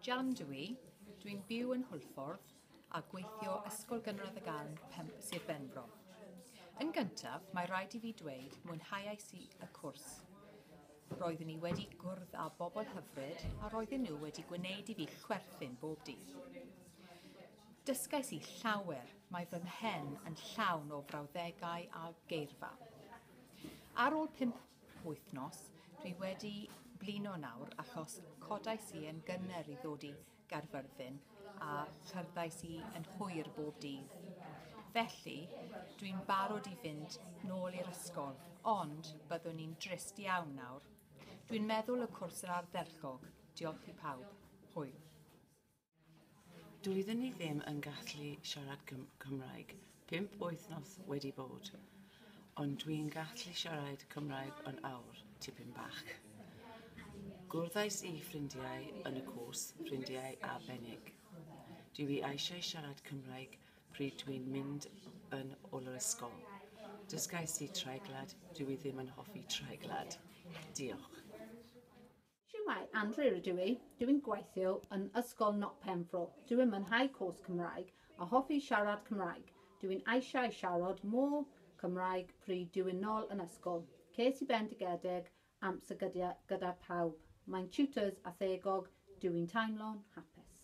Jan dw i, dwi'n byw yn Hwlffordd a gweithio Ysgol Gynradd y Garn, Pemp, Sir Benfro. Yn gyntaf, mae rhaid i fi dweud mwynhauais i y cwrs. Roeddwn i wedi gwrdd â bobl hyfryd a roedden nhw wedi gwneud i fi chwerthin bob dydd. Dysgais i llawer, mae fy mhen yn llawn o frawddegau a geirfa. Ar ôl pump wythnos, dwi wedi blino nawr achos codais i yn gynnar i ddod i Gaerfyrddin a cherddais i yn hwyr bob dydd. Felly, dwi'n barod i fynd nôl i'r ysgol, ond byddwn i'n drist iawn nawr. Dwi'n meddwl y cwrs yr ardderchog. Diolch i pawb. Hwyl. Doedden ni ddim yn gallu siarad Cym- Cymraeg. Pump wythnos wedi bod. Ond dwi'n gallu siarad Cymraeg yn awr, tipyn bach. Gwrddais i ffrindiau yn y cwrs, ffrindiau arbennig. Dw i eisiau siarad Cymraeg pryd dwi'n mynd yn ol yr ysgol. Dysgais i treiglad, dw i ddim yn hoffi treiglad. Diolch. Shwmae, Andrew ydw i, dw i'n gweithio yn Ysgol Not Penfro, dw i'n mwynhau cwrs Cymraeg a hoffi siarad Cymraeg, dw i'n eisiau siarad more Cymraeg pryd dw i'n nol yn ysgol, ces i bendigedig amser gyda gyda pawb, mae'n tutors a thegog, dw i'n teimlo'n hapus.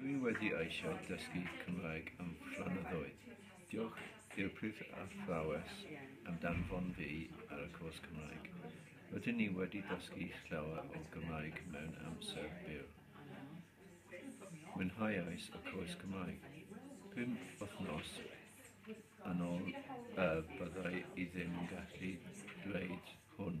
Dwi wedi eisiau dysgu Cymraeg am flynyddoedd. Diolch i'r prif athrawes am danfon fi ar y cwrs Cymraeg. Rydyn ni wedi dysgu llawer o Gymraeg mewn amser byr. Mwynhauais y cwrs Cymraeg. Pum wythnos yn ôl y byddai i ddim yn gallu dweud hwn.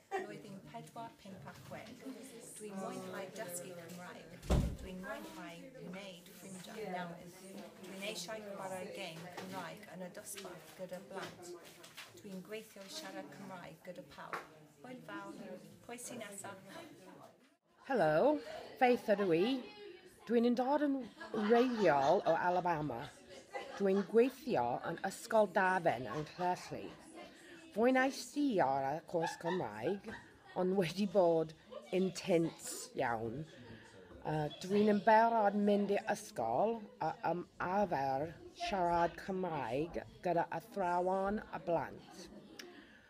Blwyddyn pedwar, pump a chwech. Dwi'n mwynhau dysgu Cymraeg. Dwi'n mwynhau gwneud ffrindiau newydd. Dwi'n eisiau chwarae gêm Cymraeg yn y dosbarth gyda blant. Dwi'n gweithio i siarad Cymraeg gyda pawb. Hwyl fawr. Pwy sy'n nesaf? Helo, Faith ydw i. Dwi'n yn dod yn wreiddiol o Alabama. Dwi'n gweithio yn Ysgol Dafen yng Nghlesllŷ. Fwynais i ar y cwrs Cymraeg, ond wedi bod yn tynts iawn. Uh, dwi'n yn berod mynd i ysgol a um, arfer siarad Cymraeg gyda athrawon a blant.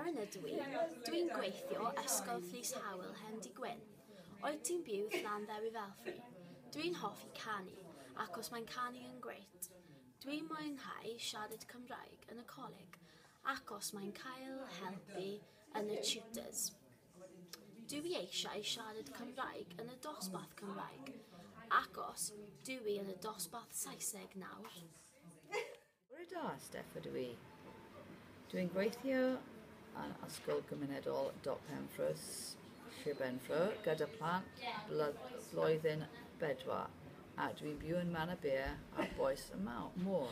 Erin ydw i. Dw i'n gweithio Ysgol Fleece Howell hen di gwyn. Oed ti'n byw Llan Ddewi Felfri? Dw i'n hoffi canu, acos mae'n canu yn grêt. Dw i'n mwynhau siarad Cymraeg yn y coleg, acos mae'n cael helpu yn y tutors. Dw i eisiau siarad Cymraeg yn y dosbarth Cymraeg, acos dw i yn y dosbarth Saesneg nawr. Bore da, Steff ydw i. Dwi'n gweithio yn Ysgol Gymunedol Doc Penfrws, Sir Benfro, gyda plant blwyddyn bedwar, a dwi'n byw yn Man y Beer a Boes y Môr.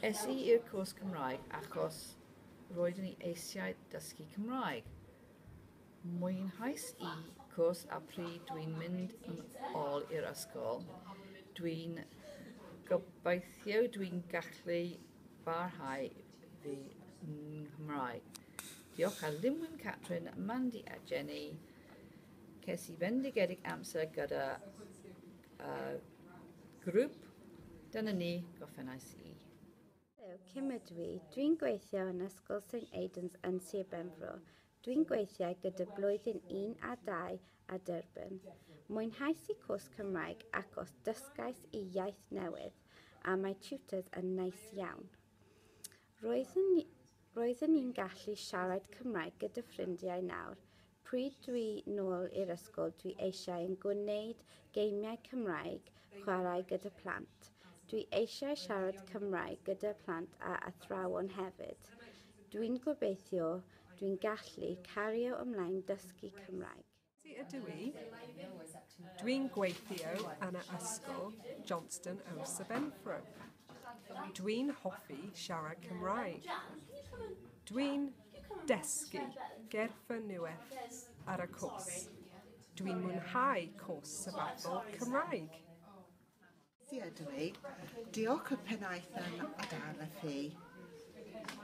Es i i'r cwrs Cymraeg achos roeddwn i eisiau dysgu Cymraeg. Mwynhais y cwrs a pryd dwi'n mynd yn ôl i'r ysgol, dwi'n gobeithio dwi'n gallu parhau fy Nghymraeg. Diolch a Lynwen Catrin, Mandy a Jenny. Ces i fendigedig amser gyda uh, grŵp. Dyna ni, goffennais i. Helo, Kim ydw i. Dwi'n gweithio yn Ysgol St Aidan's yn Sir Benfro. Dwi'n gweithiau gyda Blwyddyn Un a Dau a Durban. Mwynhais i cwrs Cymraeg acos dysgais i iaith newydd a mae tutors yn neis iawn. Roeddwn, roeddwn i'n gallu siarad Cymraeg gyda ffrindiau nawr. Pryd dwi nôl i'r ysgol dwi eisiau yn gwneud geimiau Cymraeg chwarae gyda plant. Dwi eisiau siarad Cymraeg gyda plant a athrawon hefyd. Dwi'n gobeithio dwi'n gallu cario ymlaen dysgu Cymraeg. Ti ydw i. Dwi'n gweithio yn y ysgol Johnston o Sir Benfro. Dwi'n hoffi siarad Cymraeg. Dwi'n dysgu gerffa nueth ar y cws. Dwi'n mwynhau cws sabathol Cymraeg. Ti ydw i. Diolch y pennaetham adar y fi.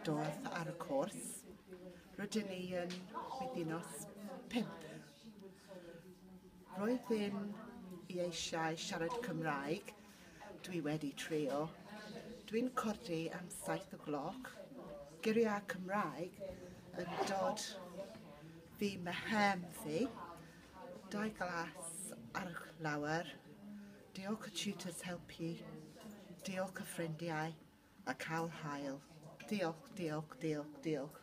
Doth ar y cwrs. Rydyn ni yn wythinos pimp. Roedd ddim i eisiau siarad Cymraeg. Dwi wedi trio. Dwi'n codi am saith o gloc. Geriau Cymraeg yn dod fi mehem fi. Dau glas ar y lawer. Diolch y tutors helpu. Diolch y ffrindiau a cael hael. Diolch, diolch, diolch, diolch.